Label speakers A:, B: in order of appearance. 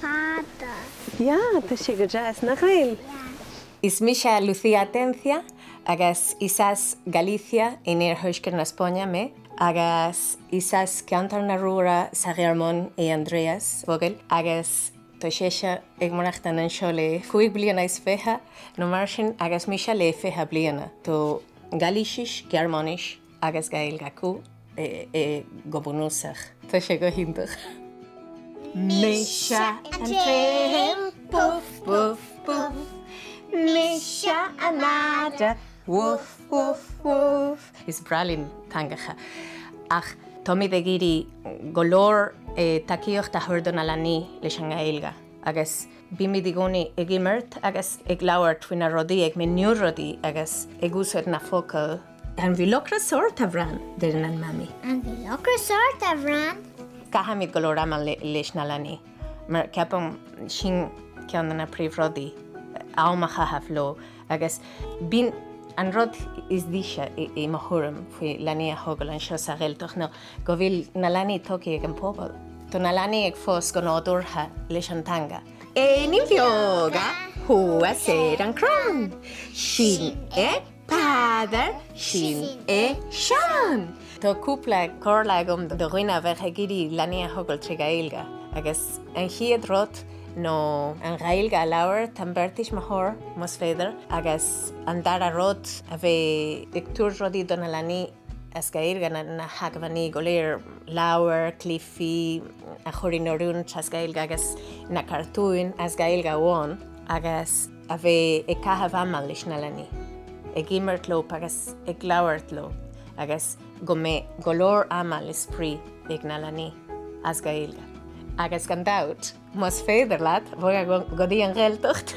A: Fada. Yeah, tá sé go deas, nach eil? Yeah. Is mise Lucía Atencia agus is as Galicia in iarthuaisceart na Spáinne mé agus is as ceantar na Ruaire sa Ghearmáin é Andreas Vogel agus tá sise ag maireachtaint anseo le cúig bliana is fiche nó mar sin agus mise le fiche bliana. Tá Gailísis, Gearmáinis agus Gaeilg acu go bunúsach. Tá sé go hiontach. Mise an t-im, buf buf buf, mise an madadh, bhuf bhuf bhuf. Is breá linn teangacha ach táimid ag iarraidh go leor tacaíocht a thabhairt do na leanaí leis an nGaeilge agus. Bímíd i gcónaí ag imirt agus ag labhairt faoi na rudaí, ag míniú rudaí agus ag úsáid na focail. An bhfuil ocras ort, a Bhran? deireann an Mamaí. An bhfuil ocras ort, a Bhran? Caithimíd go leor ama leis na leanaí mar ceapaim sin ceann de na príomhrudaí, am a chaitheamh leo. Agus b'in an rud is deise, i mo thuairim, faoi leanaí a thógail anseo sa Ghaeltacht ná go bhfuil na leanaí tógtha ag an bpobal. Tá na leanaí ag fás go nádúrtha leis an teanga. Éiníní beaga thuas ar an gcrann, Sin é Peadar, sin é Seán. Tá cúpla comhairle agam do dhaoine a bheadh ag iarraidh leanaí a thógáil trí Ghaeilge. Agus an chéad rud ná an Ghaeilge a labhairt, an beirt tuismitheoir más féidir, agus an dara rud a bheith ag tabhairt rudaí do na leanaí as Gaeilge, na hacmhainní go léir, leabhair, cluichí, a chur in oiriúint as Gaeilge agus na cartúin as Gaeilge amháin agus. a bheith ag caitheamh ama leis na leanaí, ag imirt leo agus ag labhairt leo agus go mbeidh go leor ama le spraoi ag na leanaí as Gaeilge. Agus gan dabht, más féidir leat, bog go dtí an Ghaeltacht!